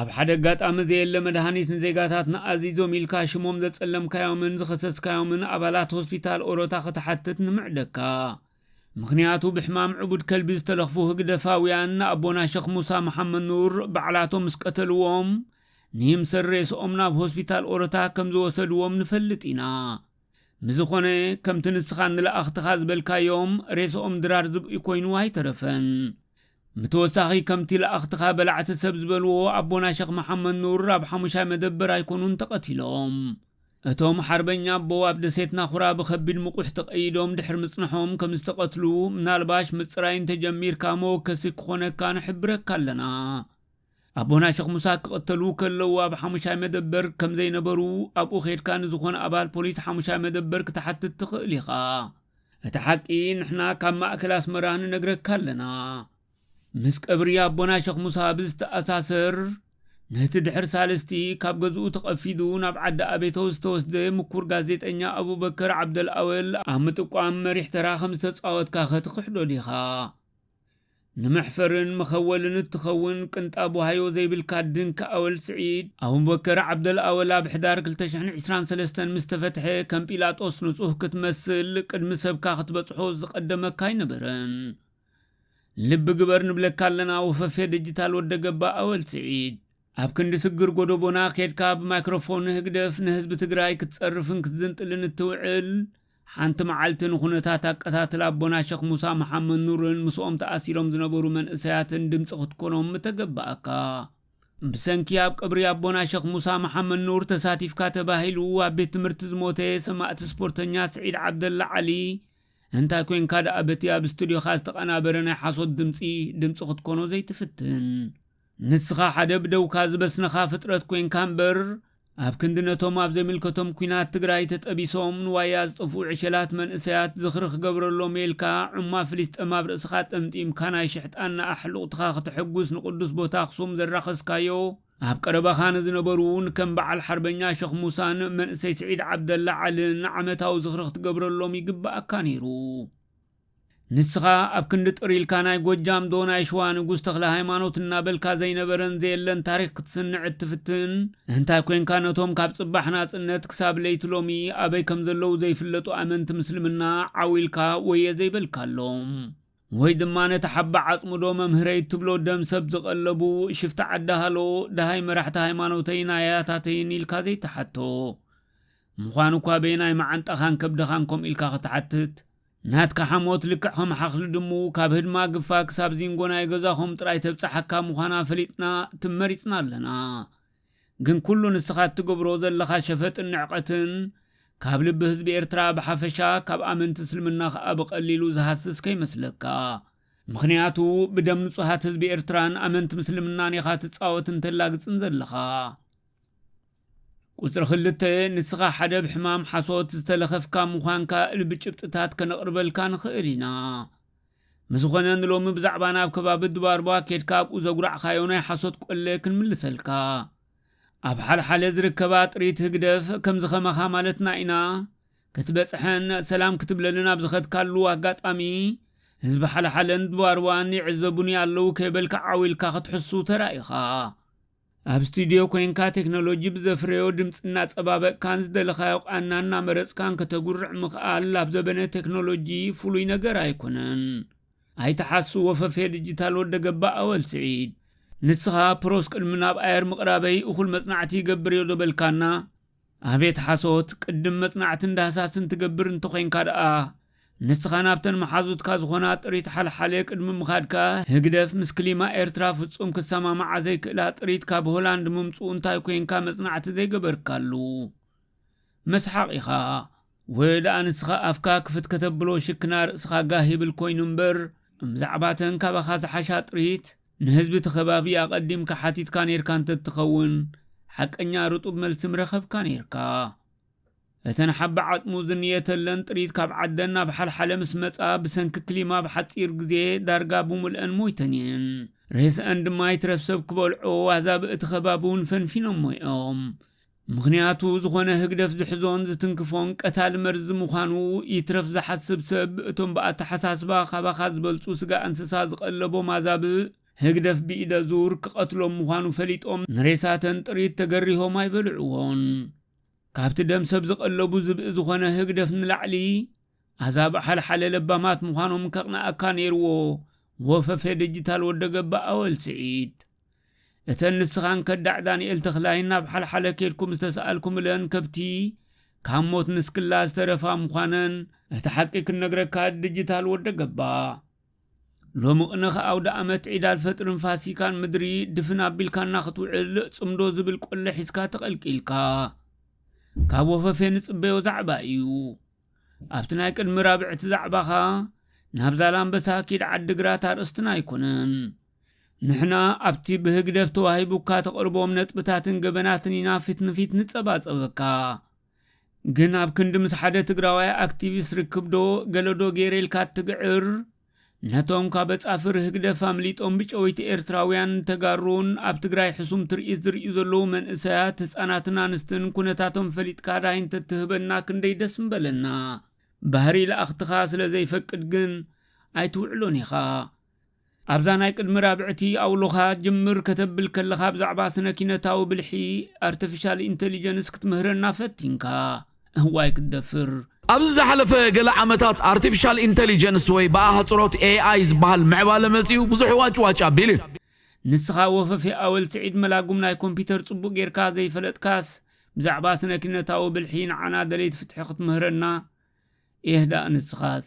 ኣብ ሓደ ኣጋጣሚ ዘየለ መድሃኒት ንዜጋታትና ኣዚዞም ኢልካ ሽሞም ዘጸለምካዮምን ዝኸሰስካዮምን ኣባላት ሆስፒታል ኦሮታ ክትሓትት ንምዕደካ ምኽንያቱ ብሕማም ዕቡድ ከልቢ ዝተለኽፉ ህግደፋውያን ንኣቦና ሸኽ ሙሳ መሓመድ ኑር ባዕላቶም ምስ ቀተልዎም ንይምሰል ሬስኦም ናብ ሆስፒታል ኦሮታ ከም ዝወሰድዎም ንፈልጥ ኢና ብዝኾነ ከምቲ ንስኻ ንለኣኽትኻ ዝበልካዮም ሬስኦም ድራር ዝብኢ ኮይኑ ኣይተረፈን። ብተወሳኺ ከምቲ ለኣኽትኻ በላዕቲ ሰብ ዝበልዎ ኣቦና ሸኽ መሓመድ ኑር ኣብ ሓሙሻይ መደበር ኣይኮኑን ተቐቲሎም። እቶም ሓርበኛ ኣቦ ኣብ ደሴት ናኹራ ብኸቢድ ምቑሕ ተቐይዶም ድሕሪ ምጽነሖም ከም ዝተቐትሉ ምናልባሽ ምጽራይ እንተጀሚርካ መወከሲ ክኾነካ ንሕብረካ ኣለና። ኣቦና ሸኽ ሙሳ ክቕተሉ ከለዉ ኣብ ሓሙሻይ መደበር ከም ዘይነበሩ ኣብኡ ኬድካ ንዝኾነ ኣባል ፖሊስ ሓሙሻይ መደበር ክትሓትት ትኽእል ኢኻ። እቲ ሓቂ ንሕና ካብ ማእከል ኣስመራ ንነግረካ ኣለና። ምስ ቀብሪ ኣቦና ሸኽ ሙሳ ብዝተኣሳሰር ነቲ ድሕሪ ሳልስቲ ካብ ገዝኡ ተቐፊዱ ናብ ዓዲ ኣቤቶ ዝተወስደ ምኩር ጋዜጠኛ ኣቡበከር ዓብደልኣወል ኣብ ምጥቋም መሪሕ ተራ ከም ዝተጻወትካኸ ትኽሕዶ ዲኻ? ንመሕፈርን መኸወልን እትኸውን ቅንጣብ ዋህዮ ዘይብልካ ድንኪ ኣወል ስዒድ፣ ኣቡበከር ዓብደል ኣወል ኣብ ሕዳር ክልተ ሽሕን ዕስራን ሰለስተን ምስ ተፈትሐ ከም ጲላጦስ ንጹህ ክትመስል ቅድሚ ሰብካ ክትበጽሖ ዝቐደመካ ኣይነበረን። ልቢ ግበር ንብለካ ኣለና ወፈፌ ድጅታል ወደገባ ኣወል ስዒድ። ኣብ ክንዲ ስግር ጎዶቦና ኬድካ ብማይክሮፎን ህግደፍ ንህዝቢ ትግራይ ክትጸርፍን ክትዝንጥልን እትውዕል፣ ሓንቲ መዓልቲ ንኩነታት ኣቀታትላ ኣቦና ሸኽ ሙሳ መሓመድኑርን ምስኦም ተኣሲሮም ዝነበሩ መንእሰያትን ድምጺ ክትኮኖም ምተገበኣካ። ብሰንኪ ኣብ ቀብሪ ኣቦና ሸኽ ሙሳ መሓመድኑር ተሳቲፍካ ተባሂሉ ኣብ ቤት ትምህርቲ ዝሞተ ሰማእቲ ስፖርተኛ ስዒድ ዓብደላ ዓሊ እንታይ ኮንካ ደኣ በቲ ኣብ ስቱድዮኻ ዝተቐናበረ ናይ ሓሶት ድምጺ ድምጺ ክትኮኖ ዘይትፍትን? ንስኻ ሓደ ብደውካ ዝበስነኻ ፍጥረት ኮይንካ እምበር ኣብ ክንዲ ነቶም ኣብ ዘይምልከቶም ኩናት ትግራይ ተጠቢሶም ንዋያ ዝጠፍኡ ዕሸላት መንእሰያት ዝኽሪ ክገብረሎም ኢልካ ዑማ ፍሊስጠም ኣብ ርእስኻ ጠምጢምካ ናይ ሽሕጣና ኣሕሉቕትኻ ክተሐጉስ ንቅዱስ ቦታ ኣኽሱም ዘራኸስካዮ ኣብ ቀረባኻ ንዝነበሩ ንከም በዓል ሓርበኛ ሸኽ ሙሳን መንእሰይ ስዒድ ዓብደላ ዓልን ዓመታዊ ዝኽሪ ክትገብረሎም ይግበኣካ ነይሩ። ንስኻ ኣብ ክንዲ ጥር ኢልካ ናይ ጎጃም ዶ ናይ ሽዋ ንጉስ ተክለሃይማኖት እናበልካ ዘይነበረን ዘየለን ታሪኽ ክትስንዕ እትፍትን እንታይ ኮንካ ነቶም ካብ ጽባሕ ናጽነት ክሳብ ለይቲ ሎሚ ኣበይ ከም ዘለዉ ዘይፍለጡ ኣመንቲ ምስልምና ዓው ኢልካ ወየ ዘይበልካሎም ወይ ድማ ነቲ ሓባ ዓጽሙ ዶ መምህረይ እትብሎ ደም ሰብ ዝቐለቡ ሽፍታ ዓዲ ሃሎ ደሃይ መራሕቲ ሃይማኖተይን ኣያታተይን ኢልካ ዘይትሓቶ ምዃኑ እኳ በየናይ መዓንጣኻን ከብድኻን ከምኡ ኢልካ ክትሓትት ናትካ ሓሞት ልክዕ ከም ሓኽሊ ድሙ ካብ ህድማ ግፋ ክሳብ ዚንጎ ናይ ገዛኹም ጥራይ ተብጻሓካ ምዃና ፈሊጥና ትም መሪጽና ኣለና ግን ኩሉ ንስኻ እትገብሮ ዘለኻ ሸፈጥን ንዕቀትን ካብ ልቢ ህዝቢ ኤርትራ ብሓፈሻ ካብ ኣመንቲ እስልምና ከኣ ብቀሊሉ ዝሃስስ ከይመስለካ ምኽንያቱ ብደም ንጹሃት ህዝቢ ኤርትራን ኣመንቲ ምስልምናን ኢኻ ትጻወትን ተላግጽን ዘለኻ። ቁጽሪ ክልተ፣ ንስኻ ሓደ ብ ሕማም ሓሶት ዝተለኸፍካ ምዃንካ እል ብጭብጥታት ከነቕርበልካ ንኽእል ኢና። ምስዝኾነ ንሎሚ ብዛዕባ ናብ ከባቢ ድባርባ ኬድካ ኣብኡ ዘጉራዕካዮ ናይ ሓሶት ቆለ ክንምልሰልካ። ኣብ ሓልሓለ ዝርከባ ጥሪት ህግደፍ ከምዚ ከማኻ ማለትና ኢና ክትበጽሐን ሰላም ክትብለልን ኣብ ዝኸድካሉ ኣጋጣሚ ህዝቢ ሓልሓለን ድባርባን ይዕዘቡኒ ኣለዉ ከይበልካ ዓው ኢልካ ክትሕሱ ተራኢኻ። ኣብ ስቱድዮ ኮይንካ ቴክኖሎጂ ብዘፍረዮ ድምፂ እናፀባበቕካን ዝደለኻዮ ቃና እናመረፅካን ከተጉርዕ ምኽኣል ኣብ ዘበነ ቴክኖሎጂ ፍሉይ ነገር ኣይኮነን። ኣይትሓሱ ወፈፌ ድጂታል ወደ ገባእ ኣወል ስዒድ። ንስኻ ፕሮስ ቅድሚ ናብ ኣየር ምቕራበይ እኹል መፅናዕቲ ይገብር'የ ዶ በልካና? ኣቤት ሓሶት ቅድም መጽናዕትን ዳህሳስን ትገብር እንተኮይንካ ድኣ ንስካ ናብተን መሓዙትካ ዝኮና ጥሪት ሓልሓሌ ቅድሚ ምካድካ ህግደፍ ምስ ክሊማ ኤርትራ ፍጹም ክሰማማዓ ዘይክእላ ጥሪት ካብ ሆላንድ ምምጽኡ እንታይ ኮንካ መጽናዕቲ ዘይገበርካሉ መስሓቅ ኢካ ወይ ደኣ ንስኻ ኣፍካ ክፍት ከተብሎ ሽክና ርእስኻ ጋህ ይብል ኮይኑ እምበር እምዛዕባተን ካባኻ ዝሓሻ ጥሪት ንህዝቢ እቲ ከባቢ ኣቐዲምካ ሓቲትካ ኔርካ እንተትኸውን ሓቀኛ ርጡብ መልሲ ምረኸብካ ኔርካ። እተን ሓቢ ዓጽሙ ዝንየተለን ጥሪት ካብ ዓደን ናብ ሓልሓለ ምስ መጻ ብሰንኪ ክሊማ ኣብ ሓጺር ግዜ ዳርጋ ብሙልኣን ሞይተን እየን። ሬስኣን ድማ ይትረፍ ሰብ ክበልዖ ኣህዛቢ እቲ ከባቢ እውን ፈንፊኖሞ እዮም። ምኽንያቱ ዝኾነ ህግደፍ ዝሕዞን ዝትንክፎን ቀታሊ መርዚ ምዃኑ ይትረፍ ዝሓስብ ሰብ እቶም ብኣተሓሳስባ ካባኻ ዝበልጹ ስጋ እንስሳ ዝቐለቦም ኣዛብእ ህግደፍ ብኢደ ዙር ክቐትሎም ምዃኑ ፈሊጦም ንሬሳተን ጥሪት ተገሪሆም ኣይበልዕዎን። ካብቲ ደም ሰብ ዝቐለቡ ዝብኢ ዝኾነ ህግደፍ ንላዕሊ ኣዛብእ ሓልሓለ ለባማት ምዃኖም ከቕንኣካ ኔርዎ ወፈፌ ድጅታል ወደገባ ኣወል ስዒድ። እተን ንስኻን ከዳዕ ዳንኤል ተኽላይን ናብ ሓልሓለ ኬድኩም ዝተሳእልኩምለን ከብቲ፣ ካብ ሞት ንስክላ ዝተረፋ ምዃነን፣ እቲ ሓቂ ክንነግረካ ድጅታል ወደ ገባ ሎሚ ቕነኽ ኣውደኣመት ዒድ ኣልፈጥርን ፋሲካን ምድሪ ድፍን ኣቢልካና ክትውዕል ጽምዶ ዝብል ቆለ ሒዝካ ተቐልቂልካ ካብ ወፈፌ ንጽበዮ ዛዕባ እዩ ኣብቲ ናይ ቅድሚ ራብዕቲ ዛዕባኻ ናብ ዛላምበሳ ኪድ ዓድግራት ኣርእስትና ኣይኮነን ንሕና ኣብቲ ብህግደፍ ተዋሂቡካ ተቕርቦም ነጥብታትን ገበናትን ኢና ፊት ንፊት ንጸባጸበካ። ግን ኣብ ክንዲ ምስ ሓደ ትግራዋይ ኣክቲቪስት ርክብዶ ገለዶ ገይረ ኢልካ እትግዕር፣ ነቶም ካብ ኣጻፍር ህግደፍ ኣምሊጦም ብጨወይቲ ኤርትራውያን ተጋሩን ኣብ ትግራይ ሕሱም ትርኢት ዝርእዩ ዘለዉ መንእሰያት ህጻናትን ኣንስትን ኩነታቶም ፈሊጥካ ዳሃይ እንተትህበና ክንደይ ደስ ምበለና። ባህሪ ለኣኽትኻ ስለዘይፈቅድ ግን ኣይትውዕሎን ኢኻ። ኣብዛ ናይ ቅድሚ ራብዕቲ ኣውሎኻ ጅምር ከተብል ከለኻ ብዛዕባ ስነ-ኪነታዊ ብልሒ፣ ኣርተፊሻል ኢንተሊጀንስ፣ ክትምህረና ፈቲንካ። እዋይ ክትደፍር! ኣብዚ ዝሓለፈ ገለ ዓመታት ኣርተፊሻል ኢንተሊጀንስ ወይ ብኣህጽሮት AI ዝበሃል ምዕባለ መጺኡ ብዙሕ ዋጭዋጭ ኣቢሉ እዩ። ንስኻ ወፈፌ ኣወል ስዒድ መላጉም ናይ ኮምፒተር ጽቡቕ ጌርካ ዘይፈለጥካስ ብዛዕባ ስነ-ኪነታዊ ብልሒ ንዓና ደለይቲ ፍትሒ ክትምህረና ኤህ ደኣ ንስኻስ።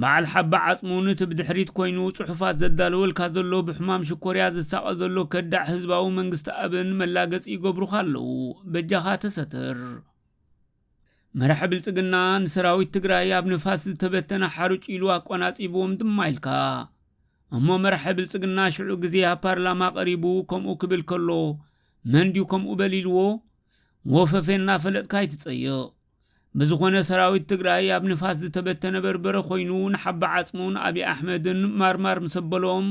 በዓል ሓባ ዓጽሙ ንቲ ብድሕሪት ኮይኑ ጽሑፋት ዘዳልወልካ ዘሎ ብሕማም ሽኮርያ ዝሳቀ ዘሎ ከዳዕ ህዝባዊ መንግስቲ ኣብን መላገጺ ይገብሩኻ ኣለዉ በጃኻ ተሰተር። መራሒ ብልጽግና ንሰራዊት ትግራይ ኣብ ንፋስ ዝተበተነ ሓሩጭ ኢሉ ኣቆናጺብዎም ድማ ኢልካ። እሞ መራሒ ብልጽግና ሽዑ ግዜ ኣብ ፓርላማ ቀሪቡ ከምኡ ክብል ከሎ መን ድዩ ከምኡ በል ኢልዎ? ወፈፌ እናፈለጥካ ኣይትጸይቕ። ብዝኾነ ሰራዊት ትግራይ ኣብ ንፋስ ዝተበተነ በርበረ ኮይኑ ንሓባ ዓፅሙን ኣብዪ ኣሕመድን ማርማር ምስ ኣበሎም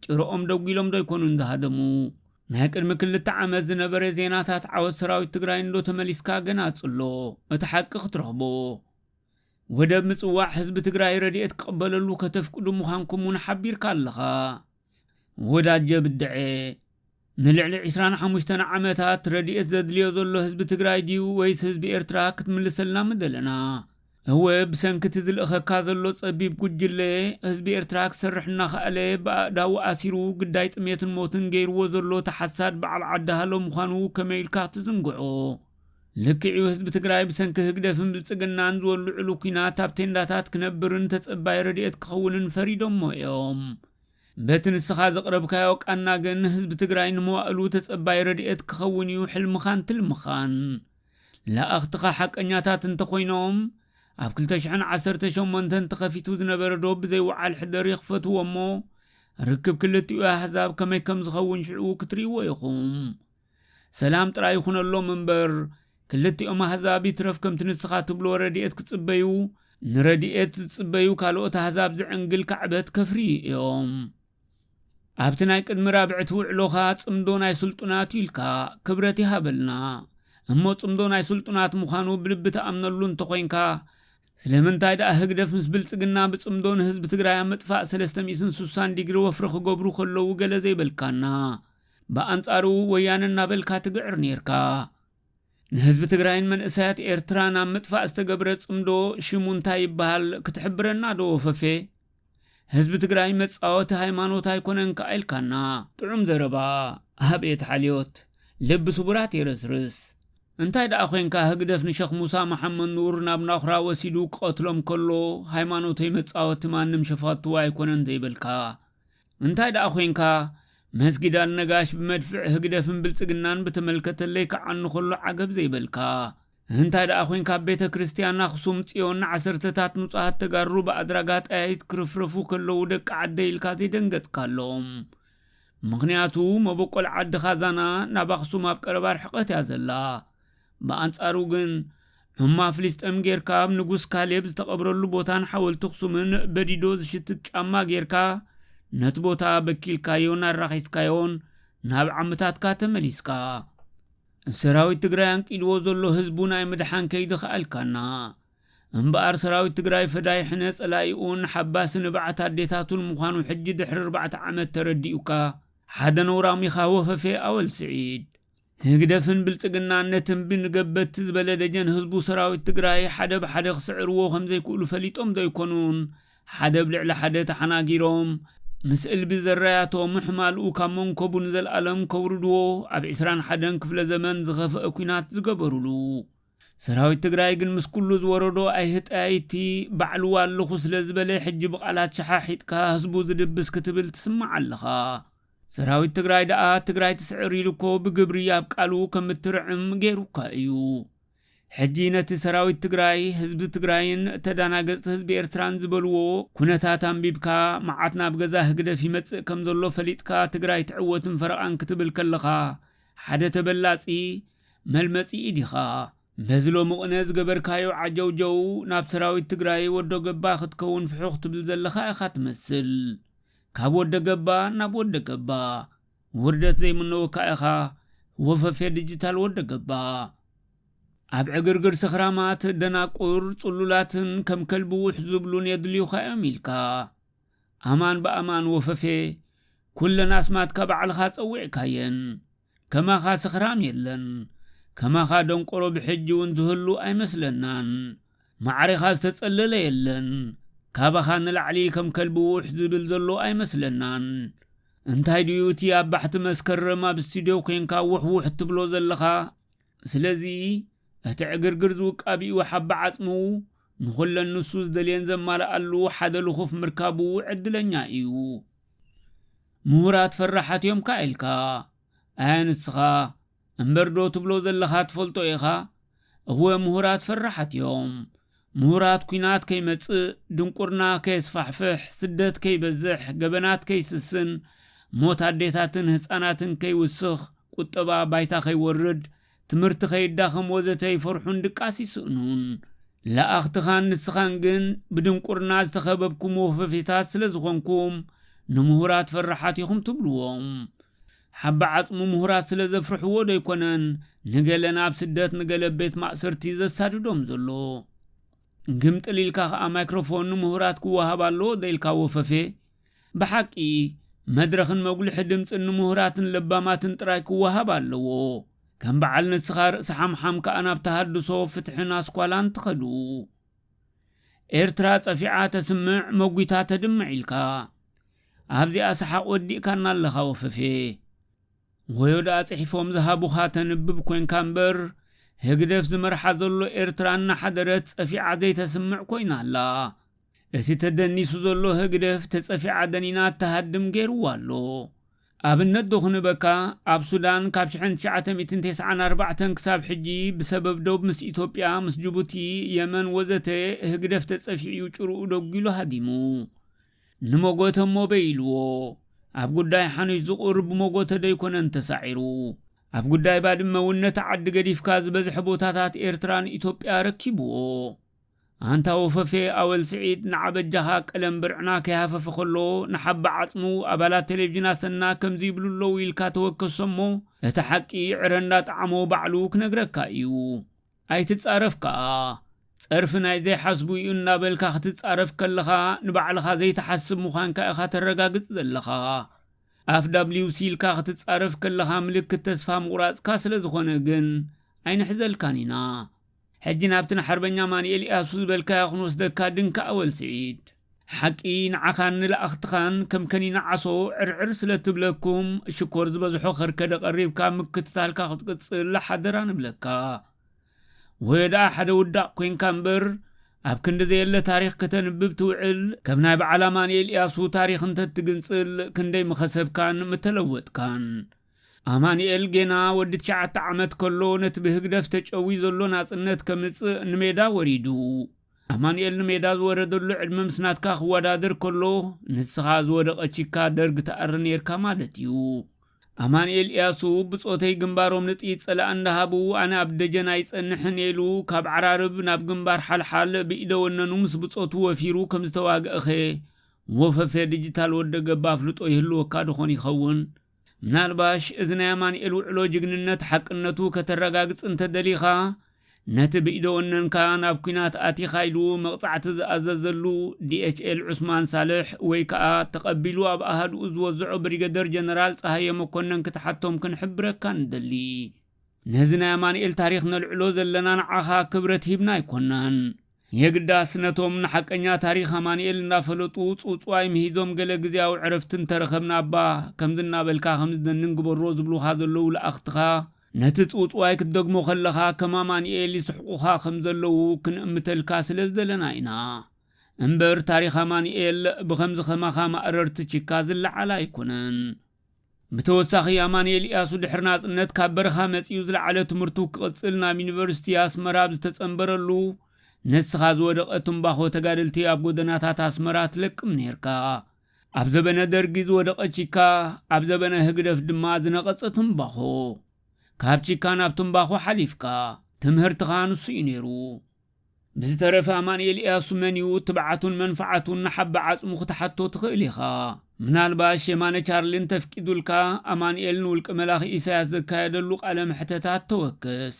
ጭርኦም ደጒሎም ዶ ኣይኮኑን ዝሃደሙ ናይ ቅድሚ ክልተ ዓመት ዝነበረ ዜናታት ዓወት ሰራዊት ትግራይ እንዶ ተመሊስካ ገና ጽሎ እቲ ሓቂ ክትረኽቦ ወደብ ምጽዋዕ ህዝቢ ትግራይ ረድኤት ክቕበለሉ ከተፍቅዱ ምዃንኩም እውን ሓቢርካ ኣለኻ ወዳጀ ብደዔ ንልዕሊ ዕስራን ሓሙሽተን ዓመታት ረድኤት ዘድልዮ ዘሎ ህዝቢ ትግራይ ድዩ ወይስ ህዝቢ ኤርትራ ክትምልሰልና ምደለና እወ ብሰንኪ እቲ ዝልእኸካ ዘሎ ጸቢብ ጉጅለ ህዝቢ ኤርትራ ክሰርሕ እናኸኣለ ብኣእዳዉ ኣሲሩ ግዳይ ጥሜትን ሞትን ገይርዎ ዘሎ ተሓሳድ በዓል ዓዲ ሃሎ ምዃኑ ከመይ ኢልካ ክትዝንግዖ ልክዕ እዩ ህዝቢ ትግራይ ብሰንኪ ህግደፍን ብልፅግናን ዝወልዕሉ ኩናት ኣብ ቴንዳታት ክነብርን ተፀባይ ረድኤት ክኸውንን ፈሪዶሞ እዮም። በቲ ንስኻ ዘቕረብካዮ ቃና ግን ህዝቢ ትግራይ ንመዋእሉ ተፀባይ ረድኤት ክኸውን እዩ ሕልምኻን ትልምኻን። ለኣኽትኻ ሓቀኛታት እንተኾይኖም ኣብ ክልተ ሽሕን ዓሰርተ ሸሞንተን ተኸፊቱ ዝነበረ ዶብ ብዘይ ውዓል ሕደር ይኽፈትዎ እሞ ርክብ ክልቲኡ ኣህዛብ ከመይ ከምዝኸውን ሽዑ ክትሪእዎ ኢኹም። ሰላም ጥራይ ይኹነሎም እምበር ክልቲኦም ኣህዛብ ይትረፍ ከምቲ ንስኻ ትብሎ ረድኤት ክጽበዩ ንረድኤት ዝጽበዩ ካልኦት ኣህዛብ ዝዕንግል ካዕበት ከፍርዩ እዮም። ኣብቲ ናይ ቅድሚ ራብዕቲ ውዕሎኻ ጽምዶ ናይ ስልጡናት እዩ ኢልካ፣ ክብረት ይሃበልና። እሞ ጽምዶ ናይ ስልጡናት ምዃኑ ብልቢ ትኣምነሉ እንተኾይንካ ስለምንታይ ደኣ ህግደፍ ምስ ብልጽግና ብጽምዶ ንህዝቢ ትግራይ ኣብ ምጥፋእ ሰለስተ ሚእትን ሱሳን ዲግሪ ወፍሪ ክገብሩ ከለዉ ገለ ዘይበልካና? ብኣንጻሩ ወያነ እናበልካ ትግዕር ኔርካ። ንህዝቢ ትግራይን መንእሰያት ኤርትራን ኣብ ምጥፋእ ዝተገብረ ጽምዶ ሽሙ እንታይ ይበሃል ክትሕብረና ዶ ወፈፌ? ህዝቢ ትግራይ መጻወቲ ሃይማኖት ኣይኮነን ከኣ ኢልካና። ጥዑም ዘረባ ኣብየት ሓልዮት ልቢ ስቡራት የረስርስ። እንታይ ደኣ ኮንካ ህግደፍ ንሸኽ ሙሳ መሓመድ ኑር ናብ ናኹራ ወሲዱ ክቀትሎም ከሎ ሃይማኖተይ መጻወቲ ማንም ሸፋቱ ኣይኮነን ዘይበልካ እንታይ ደኣ ኮንካ መስጊድ ኣልነጋሽ ብመድፍዕ ህግደፍን ብልጽግናን ብተመልከተ ለይክዓኑ ከሎ ዓገብ ዘይበልካ? እንታይ ደኣ ኮንካ ኣብ ቤተ ክርስትያን ኣኽሱም ጽዮን ንዓሰርተታት ንጹሃት ተጋሩ ብኣድራጋ ጠያይት ክርፍረፉ ከለዉ ደቂ ዓደይ ኢልካ ዘይደንገጽካሎም? ምኽንያቱ መበቆል ዓድኻ ዛና ናብ ኣኽሱም ኣብ ቀረባ ርሕቀት እያ ዘላ። ብኣንጻሩ ግን ዑማ ፍሊስጠም ጌርካ ኣብ ንጉስ ካሌብ ዝተቐብረሉ ቦታን ሓወልቲ ኣኽሱምን በዲዶ ዝሽትት ጫማ ጌርካ ነቲ ቦታ በኪልካዮን ኣራኺስካዮን ናብ ዓምታትካ ተመሊስካ ሰራዊት ትግራይ ኣንቂድዎ ዘሎ ህዝቡ ናይ ምድሓን ከይዲ ከኣልካና እምበኣር ሰራዊት ትግራይ ፈዳይ ሕነ ጸላኢኡን ሓባሲ ንብዓት ኣዴታቱን ምዃኑ ሕጂ ድሕሪ ኣርባዕተ ዓመት ተረዲኡካ ሓደ ነውራም ኢኻ ወፈፌ ኣወል ስዒድ ህግደፍን ብልጽግናን ነቲ እምቢ ንገበቲ ዝበለ ደጀን ህዝቡ ሰራዊት ትግራይ ሓደ ብሓደ ክስዕርዎ ከምዘይክእሉ ፈሊጦም ዶ ኣይኮኑን ሓደ ብ ልዕሊ ሓደ ተሓናጊሮም ምስ እልቢ ዘራያቶ ምሕማልኡ ካብ መንኮቡ ንዘልኣለም ከውርድዎ ኣብ ዕስራን ሓደን ክፍለ ዘመን ዝኸፈኣ ኩናት ዝገበሩሉ ሰራዊት ትግራይ ግን ምስ ኩሉ ዝወረዶ ኣይህጠያይቲ ባዕሉ ኣለኹ ስለ ዝበለ ሕጂ ብቃላት ሸሓሒጥካ ህዝቡ ዝድብስ ክትብል ትስማዕ ኣለኻ። ሰራዊት ትግራይ ደኣ ትግራይ ትስዕር ኢሉ እኮ ብግብሪ ኣብ ቃሉ ከም እትርዕም ገይሩካ እዩ። ሕጂ ነቲ ሰራዊት ትግራይ፣ ህዝቢ ትግራይን ተዳናገጽቲ ህዝቢ ኤርትራን ዝበልዎ ኩነታት ኣንቢብካ መዓት ናብ ገዛ ህግደፍ ይመጽእ ከም ዘሎ ፈሊጥካ ትግራይ ትዕወትን ፈረቓን ክትብል ከለኻ ሓደ ተበላጺ መልመጺ ኢድ ኢኻ። በዚ ሎሚ ቕነ ዝገበርካዮ ዓጀውጀው ናብ ሰራዊት ትግራይ ወዶ ገባ ክትከውን ፍሑኽ ትብል ዘለኻ ኢኻ ትመስል። ካብ ወደ ገባ ናብ ወደ ገባ ውርደት ዘይምነወካ ኢኻ ወፈፌ ድጅታል ወደ ገባ። ኣብ ዕግርግር ስኽራማት ደናቁር ጽሉላትን ከም ከልቢ ውሕ ዝብሉን የድልዩኻ እዮም ኢልካ። ኣማን ብኣማን ወፈፌ ኩለን ኣስማትካ ባዕልኻ ጸዊዕካየን። ከማኻ ስኽራም የለን ከማኻ ደንቆሮ ብሕጂ ውን ዝህሉ ኣይመስለናን ማዕሬኻ ዝተጸለለ የለን ካባኻ ንላዕሊ ከም ከልቢ ውሕ ዝብል ዘሎ ኣይመስለናን እንታይ ድዩ እቲ ኣብ ባሕቲ መስከረም ኣብ ስቱድዮ ኮንካ ውሕ ውሕ እትብሎ ዘለኻ ስለዚ እቲ ዕግርግር ዝውቃቢኡ ሓባ ዓጽሙ ንኹለን ንሱ ዝደልየን ዘማልኣሉ ሓደ ልኹፍ ምርካቡ ዕድለኛ እዩ ምሁራት ፈራሓት እዮም ከኣ ኢልካ ኣያ ንስኻ እምበር ዶ ትብሎ ዘለኻ ትፈልጦ ኢኻ እወ ምሁራት ፈራሓት እዮም ምሁራት ኩናት ከይመጽእ ድንቁርና ከየስፋሕፍሕ ስደት ከይበዝሕ ገበናት ከይስስን ሞት ኣዴታትን ህጻናትን ከይውስኽ ቁጠባ ባይታ ከይወርድ ትምህርቲ ከይዳኸም ወዘተ ይፈርሑን ድቃስ ይስእኑን። ለኣኽትኻን ንስኻን ግን ብድንቁርና ዝተኸበብኩም ወፈፌታት ስለ ዝኾንኩም ንምሁራት ፈራሓት ኢኹም ትብሉዎም። ሓባ ዓጽሙ ምሁራት ስለ ዘፍርሕዎ ዶ ኣይኮነን ንገለ ናብ ስደት ንገለ ኣብ ቤት ማእሰርቲ ዘሳድዶም ዘሎ። ግምጥል ኢልካ ከኣ ማይክሮፎን ንምሁራት ክወሃብ ኣለዎ ዶ ኢልካ ወፈፌ። ብሓቂ መድረኽን መጉልሒ ድምጽን ንሙሁራትን ለባማትን ጥራይ ክወሃብ ኣለዎ። ከም በዓል ንስኻ ርእሲ ሓምሓም ከኣ ናብ ተሃድሶ፣ ፍትሕን ኣስኳላን ትኸዱ። ኤርትራ ጸፊዓ ተስምዕ መጒታ ተድምዕ ኢልካ። ኣብዚኣ ሰሓቕ ወዲእካና ኣለኻ ወፈፌ። ወዮ ደኣ ጽሒፎም ዝሃቡኻ ተንብብ ኮንካ እምበር ህግደፍ ዝመርሓ ዘሎ ኤርትራ እናሓደረት ጸፊዓ ዘይተስምዕ ኮይና ኣላ። እቲ ተደኒሱ ዘሎ ህግደፍ ተጸፊ ዓደን ኢና እትሃድም ገይርዋ ኣሎ። ኣብነት ዶ ክንህበካ ኣብ ሱዳን ካብ ሽሕን ትሽዓተ ሚእትን ቴስዓን ኣርባዕተን ክሳብ ሕጂ ብሰበብ ዶብ ምስ ኢትዮጵያ ምስ ጅቡቲ የመን ወዘተ ህግደፍ ተጸፊዑ እዩ ጭርኡ ደጉሉ ሃዲሙ ንሞጎተ እሞ በይልዎ ኣብ ጉዳይ ሓኑሽ ዝቁር ብሞጎተ ዶ ኣይኮነን ተሳዒሩ ኣብ ጉዳይ ባድመ እውን ነቲ ዓዲ ገዲፍካ ዝበዝሐ ቦታታት ኤርትራን ኢትዮጵያ ኣረኪብዎ። ኣንታ ወፈፌ ኣወል ስዒድ ንዓ በጃኻ ቀለም ብርዕና ከይሃፈፈ ከሎ ንሓባ ዓጽሙ ኣባላት ቴሌቭዥን ኣሰና ከምዚ ይብሉ ኣለዉ ኢልካ ተወከሶ'ሞ እቲ ሓቂ ዕረ እንዳጠዓሞ ባዕሉ ክነግረካ ኢዩ ኣይትጻረፍ ከኣ ጸርፊ ናይ ዘይሓስቡ ኢዩ እንዳበልካ ክትጻረፍ ከለኻ ንባዕልኻ ዘይትሓስብ ምዃንካ ኢኻ ተረጋግጽ ዘለኻ ኣፍ ዳብሊውሲ ኢልካ ክትጻረፍ ከለኻ ምልክት ተስፋ ምቑራጽካ ስለዝኾነ ግን ኣይንሕዘልካን ኢና ሕጂ ናብቲ ንሓርበኛ ኣማኒኤል ኢያሱ ዝበልካዮ ክንወስደካ ድንካ ኣወል ስዒድ። ሓቂ ንዓኻን ንላኣኽትኻን ከም ከኒና ዓሶ ዕርዕር ስለ ትብለኩም ሽኮር ዝበዝሖ ከርከደ ቀሪብካ ምክትታልካ ክትቅጽል ሓደራ ንብለካ። ወዮ ደኣ ሓደ ውዳቕ ኮንካ እምበር ኣብ ክንዲ ዘየለ ታሪኽ ከተንብብ ትውዕል ከም ናይ በዓል ኣማኒኤል ኢያሱ ታሪኽ እንተትግንጽል ክንደይ ምኸሰብካን ምተለወጥካን። ኣማኒኤል ጌና ወዲ ትሽዓተ ዓመት ከሎ ነቲ ብህግደፍ ተጨውዩ ዘሎ ናጽነት ከምጽእ ንሜዳ ወሪዱ። ኣማኒኤል ንሜዳ ዝወረደሉ ዕድመ ምስ ናትካ ክወዳደር ከሎ ንስኻ ዝወደቐ ቺካ ደርግ ትኣሪ ኔርካ ማለት እዩ። ኣማኒኤል ኢያሱ ብጾተይ ግንባሮም ንጥይት ጸላኢ እንዳሃቡ ኣነ ኣብ ደጀን ኣይጸንሕን እየ ኢሉ ካብ ዓራርብ ናብ ግንባር ሓልሓል ብኢደ ወነኑ ምስ ብጾቱ ወፊሩ ከምዝተዋግእኸ ወፈፌ ድጅታል ወደገባ ኣፍልጦ ይህልወካ ዶኾን ይኸውን? ምናልባሽ እዚ ናይ ኣማኒኤል ውዕሎ ጅግንነት ሓቅነቱ ከተረጋግጽ እንተደሊኻ ነቲ ብኢደ ወነንካ ናብ ኩናት ኣቲኻ ኢሉ መቕጻዕቲ ዝኣዘዘሉ ዲኤችኤል ዑስማን ሳልሕ ወይ ከኣ ተቐቢሉ ኣብ ኣሃዱኡ ዝወዘዖ ብሪገደር ጀነራል ጸሃየ መኮነን ክትሓቶም ክንሕብረካ ንደሊ። ነዚ ናይ ኣማኒኤል ታሪኽ ነልዕሎ ዘለና ንዓኻ ክብረት ሂብና ኣይኮናን የግዳስ ነቶም ንሓቀኛ ታሪኽ ኣማኒኤል እንዳፈለጡ ጽውጽዋይ ምሂዞም ገለ ግዝያዊ ዕረፍቲ እንተረኸብና እባ ከምዚ እናበልካ ከምዚ ደንን ግበሮ ዝብሉኻ ዘለዉ ልኣኽትኻ ነቲ ጽውጽዋይ ክትደግሞ ከለኻ ከም ኣማኒኤል ይስሕቁኻ ከም ዘለዉ ክንእምተልካ ስለ ዝደለና ኢና እምበር ታሪኽ ኣማኒኤል ብኸምዚ ከማኻ ማእረርቲ ቺካ ዝለዓል ኣይኮነን። ብተወሳኺ ኣማኑኤል ኢያሱ ድሕሪ ናጽነት ካብ በረኻ መጺኡ ዝለዓለ ትምህርቱ ክቕጽል ናብ ዩኒቨርሲቲ ኣስመራ ኣብ ዝተጸንበረሉ ነስኻ ዝወደቐ ትምባኾ ተጋደልቲ ኣብ ጎደናታት ኣስመራ ትለቅም ኔርካ ኣብ ዘበነ ደርጊ ዝወደቐ ቺካ ኣብ ዘበነ ህግደፍ ድማ ዝነቐጸ ትምባኾ ካብ ቺካ ናብ ትምባኾ ሓሊፍካ ትምህርትኻ ንሱ እዩ ነይሩ ብዝተረፈ ኣማንኤል እያሱ መን እዩ ትብዓቱን መንፍዓቱን ንሓባ ዓጽሙ ክትሓቶ ትኽእል ኢኻ። ምናልባሽ የማነ ቻርሊ እንተፍቂዱልካ ኣማንኤል ንውልቀ መላኺ ኢሳያስ ዘካየደሉ ቃለ መሕተታት ተወክስ።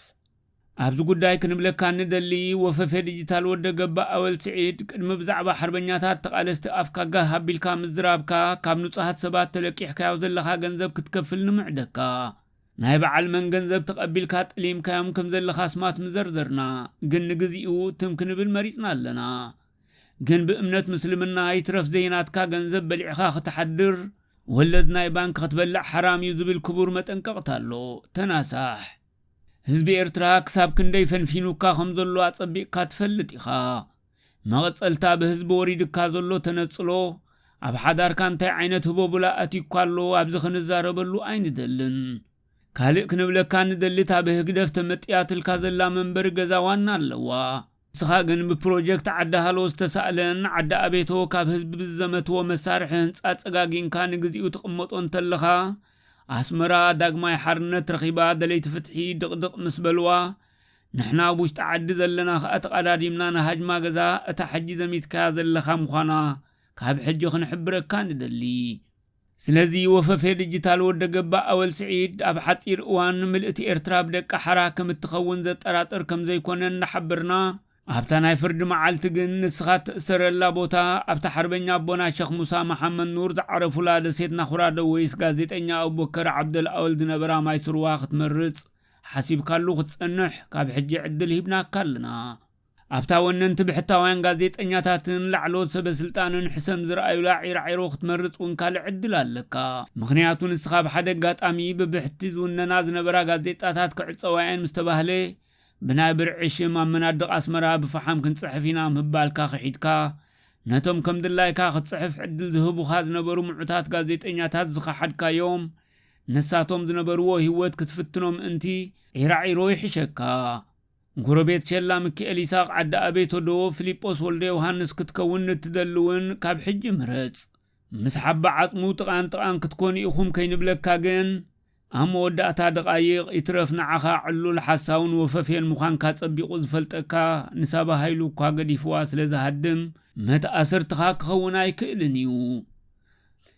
ኣብዚ ጉዳይ ክንብለካ እንደሊ ወፈፌ ድጅታል ወደ ገባእ ኣወል ስዒድ ቅድሚ ብዛዕባ ሓርበኛታት ተቓለስቲ ኣፍካ ጋህ ኣቢልካ ምዝራብካ ካብ ንጹሃት ሰባት ተለቂሕካዮ ዘለኻ ገንዘብ ክትከፍል ንምዕደካ ናይ በዓል መን ገንዘብ ተቐቢልካ ጠሊምካዮም ከም ዘለኻ ኣስማት ምዘርዘርና ግን ንግዚኡ ትም ክንብል መሪጽና ኣለና ግን ብእምነት ምስልምና ይትረፍ ዘይናትካ ገንዘብ በሊዕኻ ክትሓድር ወለድ ናይ ባንክ ክትበልዕ ሓራም እዩ ዝብል ክቡር መጠንቀቕታ ኣሎ ተናሳሕ ህዝቢ ኤርትራ ክሳብ ክንደይ ፈንፊኑካ ከም ዘሎ ኣጸቢቕካ ትፈልጥ ኢኻ። መቐጸልታ ብህዝቢ ወሪዱካ ዘሎ ተነጽሎ፣ ኣብ ሓዳርካ እንታይ ዓይነት ህቦብላ ኣትዩካ ኣሎ ኣብዚ ክንዛረበሉ ኣይንደልን። ካልእ ክንብለካ ንደሊ እታ ብህግደፍ ተመጥያትልካ ዘላ መንበሪ ገዛ ዋና ኣለዋ። ንስኻ ግን ብፕሮጀክት ዓዲ ሃሎ ዝተሳእለን ዓዲ ኣቤቶ ካብ ህዝቢ ብዝዘመትዎ መሳርሒ ህንጻ ጸጋጊንካ ንግዚኡ ትቕመጦ እንተለኻ፣ ኣስመራ ዳግማይ ሓርነት ረኺባ ደለይቲ ፍትሒ ድቕድቕ ምስ በልዋ፣ ንሕና ኣብ ውሽጢ ዓዲ ዘለና ከኣ ተቐዳዲምና ንሃጅማ ገዛ እታ ሕጂ ዘሚትካያ ዘለኻ ምዃና ካብ ሕጂ ክንሕብረካ ንደሊ። ስለዚ ወፈፌ ድጅታል ወደ ገባ ኣወል ስዒድ ኣብ ሓጺር እዋን ምልእቲ ኤርትራ ብደቂ ሓራ ከም እትኸውን ዘጠራጥር ከም ዘይኮነ እንዳሓበርና ኣብታ ናይ ፍርዲ መዓልቲ ግን ንስኻ እትእሰረላ ቦታ ኣብታ ሓርበኛ ኣቦና ሸኽ ሙሳ መሓመድ ኑር ዝዓረፉላ ደሴት ናኹራ ዶ ወይስ ጋዜጠኛ ኣቡበከር ዓብደል ኣወል ዝነበራ ማይ ስርዋ ክትመርጽ ሓሲብካሉ ክትጸንሕ ካብ ሕጂ ዕድል ሂብናካ ኣለና። ኣብታ ወነንቲ ብሕታውያን ጋዜጠኛታትን ላዕለዎት ሰበስልጣንን ሕሰም ዝርኣዩላ ዒራዒሮ ክትመርጽ እውን ካልእ ዕድል ኣለካ። ምኽንያቱ ንስኻ ብሓደ ኣጋጣሚ ብብሕቲ ዝውነና ዝነበራ ጋዜጣታት ክዕጸዋ እየን ምስ ተባህለ ብናይ ብርዒ ሽም ኣብ መናድቕ ኣስመራ ብፈሓም ክንጽሕፍ ኢና ምባልካ ክሒድካ ነቶም ከምድላይካ ክትጽሕፍ ዕድል ዝህቡኻ ዝነበሩ ምዑታት ጋዜጠኛታት ዝኸሓድካዮም ነሳቶም ዝነበርዎ ሂወት ክትፍትኖ ምእንቲ ዒራዒሮ ይሕሸካ ንጎረቤት ሸላ ምኪኤል ኢሳቅ ዓዲ ኣቤቶ ዶ ፍሊጶስ ወልደዮውሃንስ ክትከውን ንትደሊ ውን ካብ ሕጂ ምረጽ ምስ ሓባ ዓጽሙ ጥቃን ጥቃን ክትኮኑ ኢኩም ከይንብለካ ግን ኣብ መወዳእታ ደቃይቅ ይትረፍ ንዓካ ዕሉል ሓሳውን ወፈፌን ምኳንካ ጸቢቁ ዝፈልጠካ ንሳባ ሃይሉ እኳ ገዲፍዋ ስለ ዝሃድም መትኣስርትካ ክከውን ኣይክእልን ኢዩ